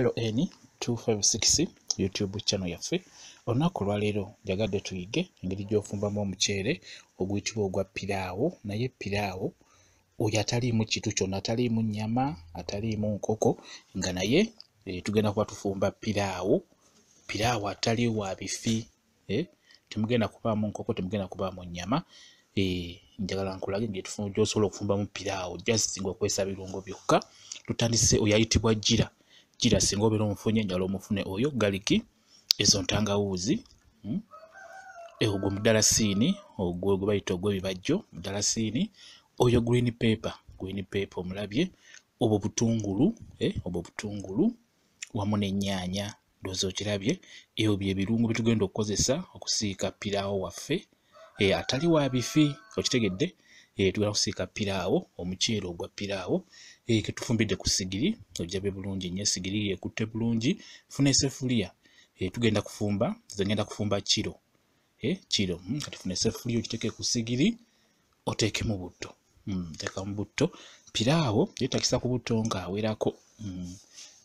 ln 256 youtube channel yaffe olunaku olwaleero njagadde tuyige engeri gyofumbamu omuceere oguyitibwa ogwa piraawo naye piraawo oyo ataliimu kitu kyonna ataliimu nyama ataliimu nkoko nga naye eh, tugenda kuba tufumba piraawo piraawo atali wa bifi eh, temugenda kubaamu nkoko temugenda kubaamu nyama eh, njagala nkulage gyosobola okufumbamu piraawo just nga okozesa birungo byokka tutandise oyo ayitibwa jira jira singa obeera omufunye njala omufune oyo galiki ezo ntangawuuzi hmm? eh, ogwo mudalasiini ogwo gwe bayita ogwebibajjo mudalasiini oyo green paper green paper omulabye obwo butungulu eh, obwo butungulu wamu n'ennyaanya ndoza okirabye ebyo bye birungo bitugenda okukozesa okusiika piraawo waffe e, atali wa bifi okitegedde e, tugenda kusiika piraawo omuceere ogwa piraawo e, eh, ketufumbidde ku sigiri ojabe bulungi nyo esigiri yekutte bulungi funa esefuliya e, tugenda kufumba zengenda kufumba kiro e, kiro hmm, kati funa esefuliya okiteke ku sigiri oteekemu butto mm, teeka mu butto piraawo yeetagisa ku butto ng'awerako mm,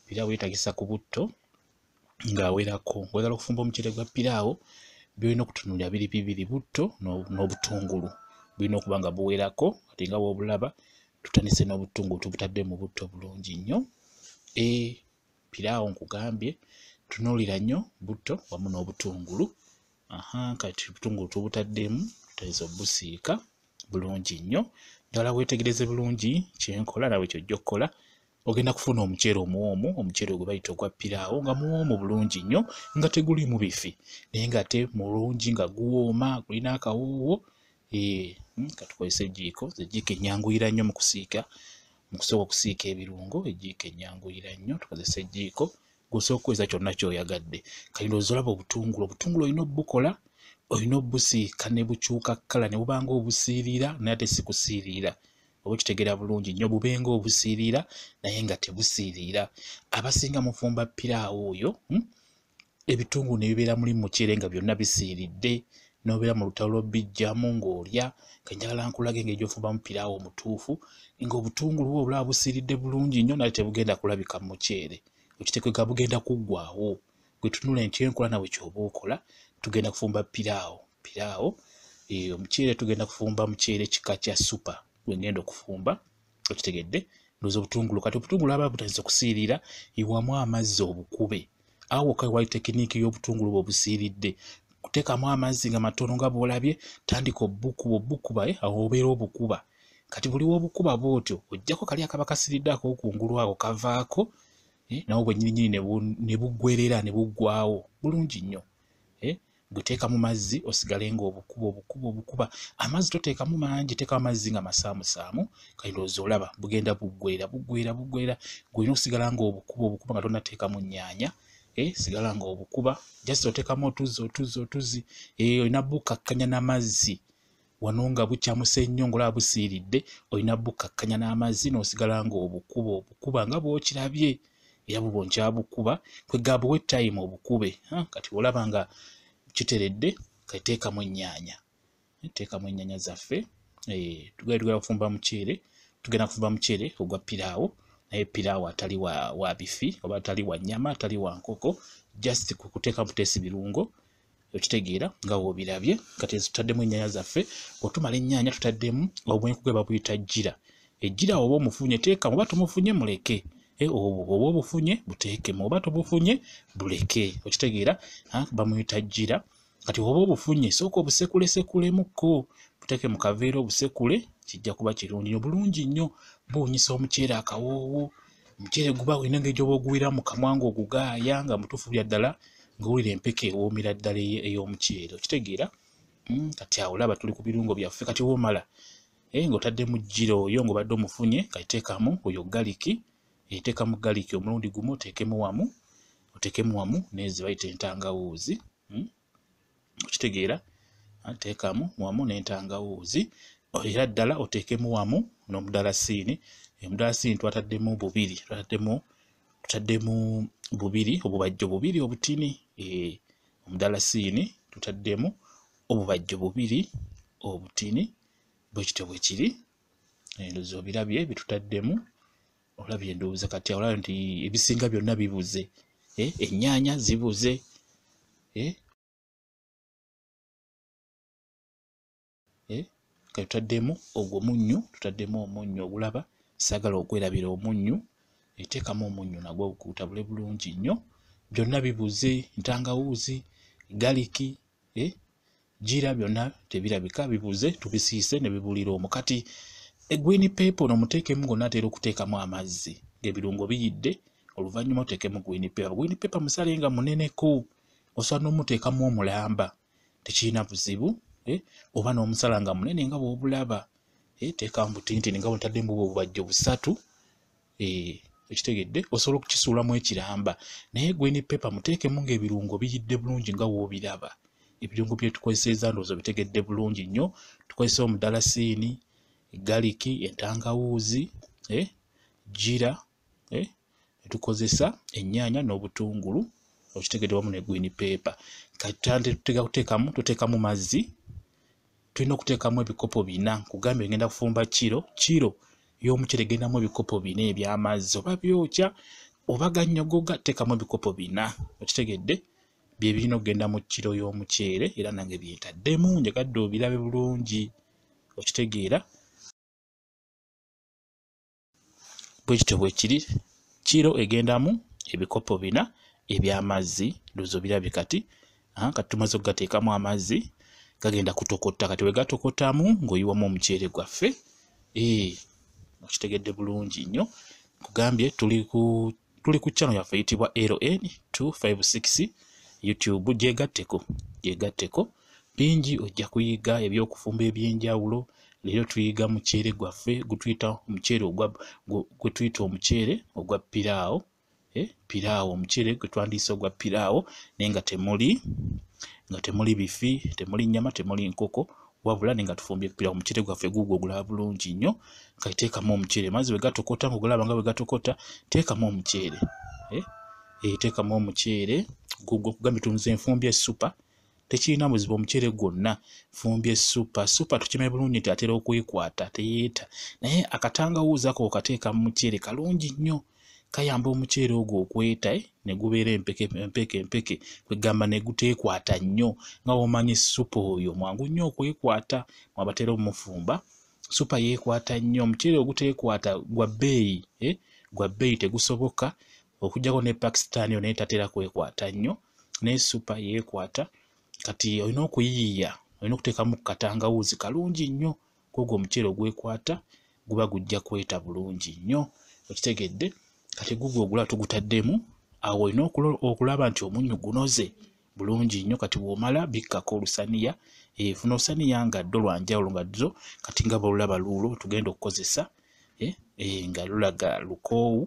piraawo yeetagisa ku butto ng'awerako ng'oyagala okufumba omuceere gwa piraawo byolina okutunulira biri bibiri butto n'obutungulu bulina okuba nga buwerako ate nga bwobulaba tutandise n'obutungulu tubutadde mu butto bulungi nnyo e piraawo nkugambye tunuulira nnyo butto wamu n'obutungulu aha kati obutungulu tubutaddemu tutayinza obusiika bulungi nnyo ddala weetegereze bulungi kyenkola nawe kyojja okukola ogenda kufuna omuceere omuwoomu omuceere gwe bayita ogwa piraawo nga muwoomu bulungi nnyo nga teguliimu bifi naye ngate mulungi nga guwooma gulina akawoowo eh, hmm, katukozesa ejiiko ejiiko enyanguyira nnyo mu kusiika mu kusooka okusiika ebirungo ejiiko enyanguyira nnyo tukozesa ejiiko gwosobola okukozesa kyonna kyoyagadde kati ndowooza olaba obutungulu obutungulu olina obukola olina obusiika ne bukyuka kkala ne bubanga obusiiriira naye ate si kusiiriira oba okitegeera bulungi nnyo bubenga obusiiriira naye nga tebusiiriira abasinga mufumba piraawo oyo hmm? ebitungulu ne bibeera muli muceere nga byonna bisiiridde nobeera mu lutalo lwobijjamu ng'olya nga njagala nkulaga engeri gyofumbamu piraawo omutuufu nga obutungulu bwo obulaba busiiridde bulungi nnyo naye tebugenda kulabika mu muceere okitekega bugenda kuggwawo gwe tunula nti enkola nawe kyoba okola tugenda kufumba piraawo piraawo eh, omuceere tugenda kufumba muceere kika kya supa gwengenda okufumba okitegedde ndoza obutungulu kati obutungulu aba butandise kusiirira iwamu amazzi obukube awo kai wali tekiniiki y'obutungulu bwobusiiridde kuteekamu amazzi nga matono nga bwolabye tandika obukuba obukuba eh, awo obeera obukuba kati buli wobukuba bwotyo ojjako kali akaba kasiridde akokungulu ako kavaako eh, nawo bwenyinyini ne bugwerera ne buggwawo bulungi nnyo eh, guteeka mu mazzi osigale nga obukuba obukuba obukuba amazzi toteekamu mangi teekamu amazzi nga masaamusaamu kayindoozi olaba bugenda buggwera buggwera buggwera gulina okusigala nga obukuba obukuba nga tonateekamu nnyanya eh, sigala nga obukuba just oteekamu otuzzi otuzzi otuzzi eh, olina bukakkanya n'amazzi wano nga bukyamuse nnyo ngolaba busiiridde olina bukkakkanya n'amazzi n'osigala nga obukuba obukuba nga bwokirabye era bubo nkyabukuba kwegamba owe time obukube kati olaba nga kiteredde kateekamu ennyaanya teekamu ennyaanya zaffe eh, tugenda tugenda kufumba muceere tugenda kufumba muceere ogwa piraawo naye piraawo atali wa, wa bifi oba atali wa nnyama atali wa nkoko just kuteekamu teesi birungo okitegeera nga wobirabye kati tutaddemu ennyanya zaffe otumala ennyanya tutaddemu obwenkuge babuyita jjira ejjira oba omufunye teeka oba tumufunye muleke eh, oba obufunye buteekemu oba tobufunye buleke okitegeera bamuyita jjira kati oba obufunye sooka obusekulesekulemu-ko buteeke mu kaveera obusekule kijja kuba kirungi nyo bulungi nnyo buwunyisa omuceere akawoowo omuceere guba olina engeri gyoba oguwira mu kamwa nga ogugaaya nga mutuufu bya ddala ng'owulira empeke ewoomera ddala ey'omuceere okitegeera hmm, kati awo laba tuli ku birungo byaffe kati woomala eh, ng'otadde mu jjira oyo ng'obadde omufunye kaiteekamu oyo galiki eteeka mu galiki omulundi gumu oteekemu wamu oteekemu wamu nezibayita entangawuuzi hmm, okitegeera nteekamu wamu n'entangawuuzi era ddala oteekemu wamu n'omudalasiini omudalasiini twataddemu bubiri twataddemu tutaddemu bubiri obubajjo bubiri obutini eh, omudalasiini tutaddemu obubajjo bubiri obutini bwekityo bwekiri endozi obirabye bitutaddemu olabye ndowooza kati olabye nti ebisinga byonna bibuze eh, ennyaanya zibuze eh? Eh? kati tutaddemu ogwo munnyu tutaddemu omunnyu ogulaba saagala okwerabira omunnyu eteekamu omunnyu nagwo gutabule bulungi nnyo byonna bibuze ntangawuuzi galiki gira byonna tebirabika bibuze tubisiise ne bibulira omu kati egwini peepo no muteekemu gonna atera okuteekamu amazzi ng'ebirungo biyidde oluvannyuma oteekemu gwini peepa gwini peepa musale nga muneneko osobola n'omuteekamu omulamba tekirina buzibu eh, oba n'omusala nga munene nga bw'obulaba eh, teekamu butintini nga bwotadde mu bubajjo busatu eh, ekitegedde osobola okukisuulamu ekiramba naye gweni pepa muteekemu ng'ebirungo biyidde bulungi nga woobiraba ebirungo byetukozeseza ndowooza bitegedde bulungi nnyo tukozesa omudalasiini galiki entangawuuzi eh, jira eh, tukozesa ennyaanya n'obutungulu okitegedde wamu ne gwini peepa kati tuteekamu mazzi tulina okuteekamu ebikopo bina nkugambye ngenda kufumba kiro kiro y'omucere gendamu ebikopo bina eby'amazzi oba byokya oba gannyogoga teekamu ebikopo bina okitegedde bye birina okugenda mu kiro y'omuceere era nange byentaddemu njagadde obirabe bulungi okitegeera bwe kityo bwe kiri kiro egendamu ebikopo bina eby'amazzi ndowooza obirabye kati kati tumaze okugateekamu amazzi gagenda kutokota kati bwe gatokotamu ng'oyiwamu omuceere gwaffe ee okitegedde bulungi nnyo kugambye tuli ku tuli ku channel yaffe yitibwa LN 256 YouTube gyegatteko gyegatteko bingi ojja kuyiga ebyokufumba ebyenjawulo leero tuyiga muceere gwaffe gutuyita omuceere gwe tuyita omuceere ogwa piraawo eh, piraawo omuceere gwe twandiyisa ogwa piraawo naye nga temuli nga temuli bifi temuli nyama temuli nkoko wabula ne nga tufumbye ekipira ku muceere gwaffe guugwo ogulaba bulungi nnyo nga teekamu omuceere amazzi bwe gatokota ngaogulaba nga bwe gatokota teekamu omuceere eh? eh, teekamu omuceere guugwo okugambye tunze enfumbye esupa tekirina buzibu omuceere gwonna fumbye esupa supa tukime bulungi nti atera okwekwata teyeeta naye akatangawuuza ko okateeka mu muceere kalungi nnyo kayamba omuceere ogwo okweta eh, ne gubeera empeke empeke empeke kwegamba ne guteekwata nnyo nga womanyi supa oyo mwangu nnyo okwekwata mwabatera omufumba supa yeekwata nnyo omuceere oguteekwata gwa bbeeyi eh, gwa bbeeyi tegusoboka okujjako ne pakistan yo naye tatera kwekwata nnyo naye supa yeekwata kati olina okuyiyiya olina okuteekamu katangawuuzi kalungi nnyo kwogwo omuceere ogwekwata guba gujja kweta bulungi nnyo okitegedde kati gugwo ogula tugutaddemu awo olina okulaba nti omunnyu gunoze bulungi nnyo kati bwomala bikkako olusaniya efuna eh, osaniya nga ddo lwanjawulo nga dzo kati nga bwolulaba luulo tugenda okukozesa eh, eh, nga lulaga lukoowu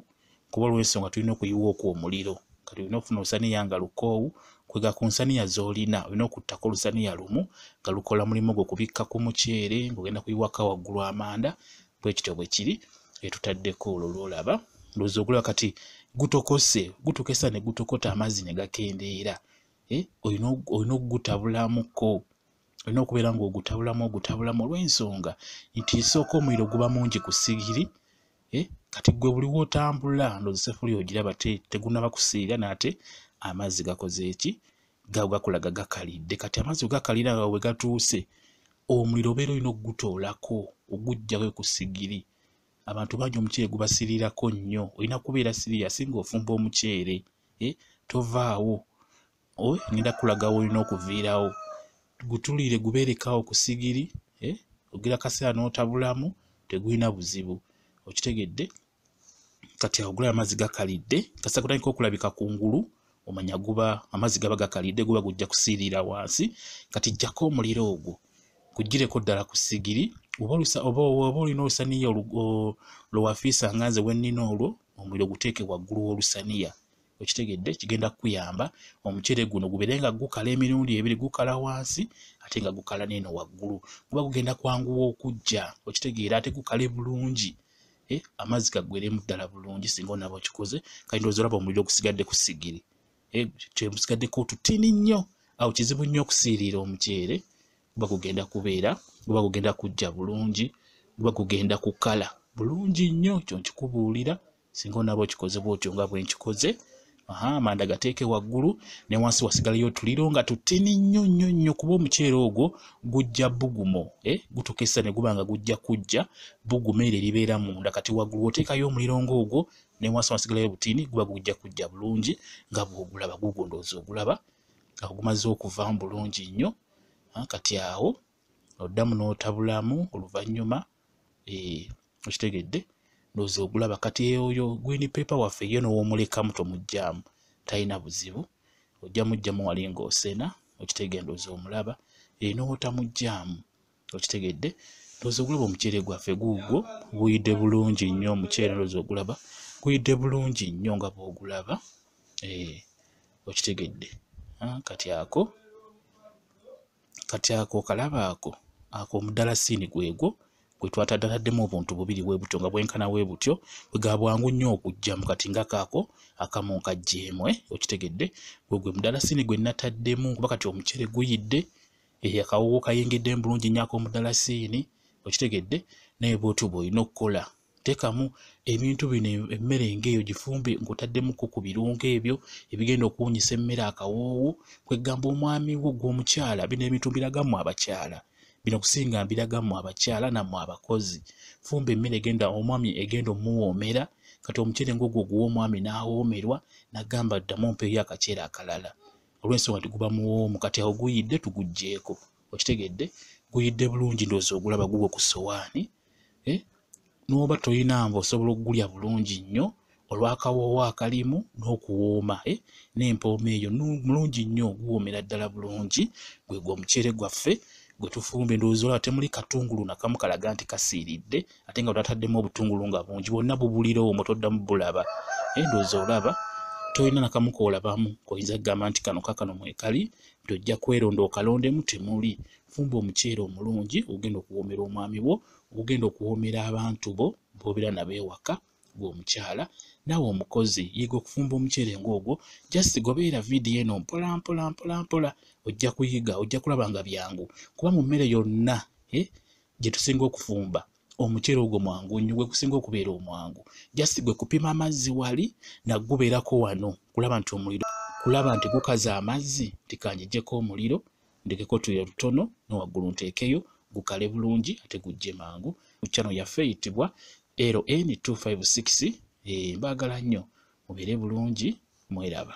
kuba olwensonga tulina okuyiwa okwo omuliro kati olina okufuna olusaniya nga lukoowu kwega ku nsaniya z'olina olina okuttako olusaniya lumu nga lukola mulimu gwo kubikka ku muceere ng'ogenda kuyiwaka waggulu amanda bwe kityo bwe kiri etutaddeko olwo lwolaba ndowooza ogulaba kati gutokose gutukesa ne gutokota amazzi ne gakendeera eh, olina okugutabulamuko olina okubeera ng'ogutabulamu ogutabulamu olw'ensonga nti isooka omuliro guba mungi ku sigiri eh, kati gwe buliwo otambula ndozi sefuli ogiraba te tegunaba kusiira naate amazzi gakoze eki gawo gakulaga gakalidde kati amazzi ogakalira nga wegatuuse omuliro obeera olina okugutoolako ogujjawo ekusigiri abantu bangi omuceere gubasirirako nnyo olina kubeera siriya singa ofumba omuceere eh, tovaawo owe ngenda kulaga wolina okuviirawo gutulire gubeerekawo ku sigiri eh? ogira kaseera n'otabulamu tegulina buzibu okitegedde kati agula amazzi gakalidde kasita kutandika okulabika ku ngulu omanya guba amazzi gaba gakalidde guba gujja kusiirira wansi kati jjako omuliro ogwo kugireko ddala ku sigiri oba olina olusaniya lwewafiisa nga nze wennina olwo omuliro guteeke waggulu w'olusaniya okitegedde kigenda kukuyamba omucere guno gubeere nga gukala emirundi ebiri gukala wansi ate nga gukala neeno waggulu guba gugenda kwanguwa okujja okitegeera ate gukale bulungi e, amazzi gaggweremu ddala bulungi singa onaba okikoze kandi ozolaba omuliro gusigadde ku sigiri e, eh, kyemusigaddeko otutini nnyo awo kizibu nnyo okusiiriira omuceere guba gugenda kubeera guba gugenda kujja bulungi guba gugenda kukala bulungi nnyo kyo nkikubuulira singa onaaba okikoze bwotyo nga bwenkikoze aha amanda gateeke waggulu ne wansi wasigalayo otuliro nga tutini nnyo nnyo nnyo kuba omuceere ogwo gujja bugumo e eh, gutuuka essa ne guba nga gujja kujja bugumo ere libeera munda kati waggulu oteekayo omuliro ngaogwo ne wansi wasigalayo butini guba gujja kujja bulungi nga bwogulaba gugondooza ogulaba nga gumaze okuvamu bulungi nnyo kati awo oddamu n'otabulamu oluvannyuma eh, okitegedde ndozi ogulaba kati eyoyo gwini pepa waffe ye nowomulekamu tomugyamu talina buzibu ojja mugyamu wali ngaosena okitegede ndozi omulaba eh, nowotamugyamu okitegedde ndozi ogulaba omuceere gwaffe guugwo guyidde bulungi nnyo omuceere ndozi ogulaba guyidde bulungi nnyo nga bwogulaba eh, okitegedde ah, kati ako kati ako okalaba ako ako omudalasiini gwegwo gwe twatadataddemu obuntu bubiri bwe butyo nga bwenkana we butyo bwe ga bwangu nnyo okujjamu kati nga kaako akamu nkajjeemu eh, okitegedde gwe gwe mudalasiini gwe nataddemu kuba kati omucere guyidde eh, akawoowo kayingidde mu bulungi nnyako omudalasiini okitegedde naye bwotyo bw'olina okukola tekamu ebintu bino emmere ng'eyo gifumbe ng'otaddemuko ku birungo ebyo ebigenda okuwunyisa emmere akawoowo kwegamba omwami wo gw'omukyala bino ebintu mbiragamu abakyala bino kusinga mbiragamu abakyala namu abakozi fumba emmere egenda omwami egenda omuwoomera kati omukyere ng'ogwo oguwa omwami n'awoomerwa nagamba ddamu mpeeyo akakyere akalala olw'ensonga nti guba muwoomu kati awo guyidde tuguggyeko okitegedde guyidde bulungi ndoozi ogulaba gugwo ku sowaani eh, n'oba tolina mba osobola okugulya bulungi nnyo olw'akawoowo akalimu n'okuwooma eh, n'empooma eyo mulungi nnyo guwoomera ddala bulungi gwe gwe omuceere gwaffe gwe tufumba endowooza olaba temuli katungulu nakamu kalaga nti kasiiridde ate nga twataddemu obutungulu nga bungi bwonna bubulira omwo toddamu bulaba eh, endowooza olaba tolina nakamu koolabamu koyinza kugamba nti kano kakano mwekali tojja kweronda okalondemu temuli fumba omuceere omulungi ogenda okuwoomera omwami wo ogenda okuwoomera abantu bo bobeera nabo ewaka gwe omukyala naawe omukozi yiga okufumba omuceere ng'ogwo just gobeera vidiyo eno mpola mpola mpola mpola ojja kuyiga ojja kulaba nga byangu kuba mu mmere yonna eh, gye tusinga okufumba omuceere ogwo mwangu nnyo gwe kusinga okubeera omwangu just gwe kupima amazzi wali nagubeerako wano kulaba nti omuliro kulaba nti gukaza amazzi nti kanjijeko omuliro ndekeko tuyo lutono ne waggulu nteekeyo gukale bulungi ate gujje mangu ku channel yaffe eyitibwa LN 256 eh, mbaagala nnyo mubeere bulungi mweraba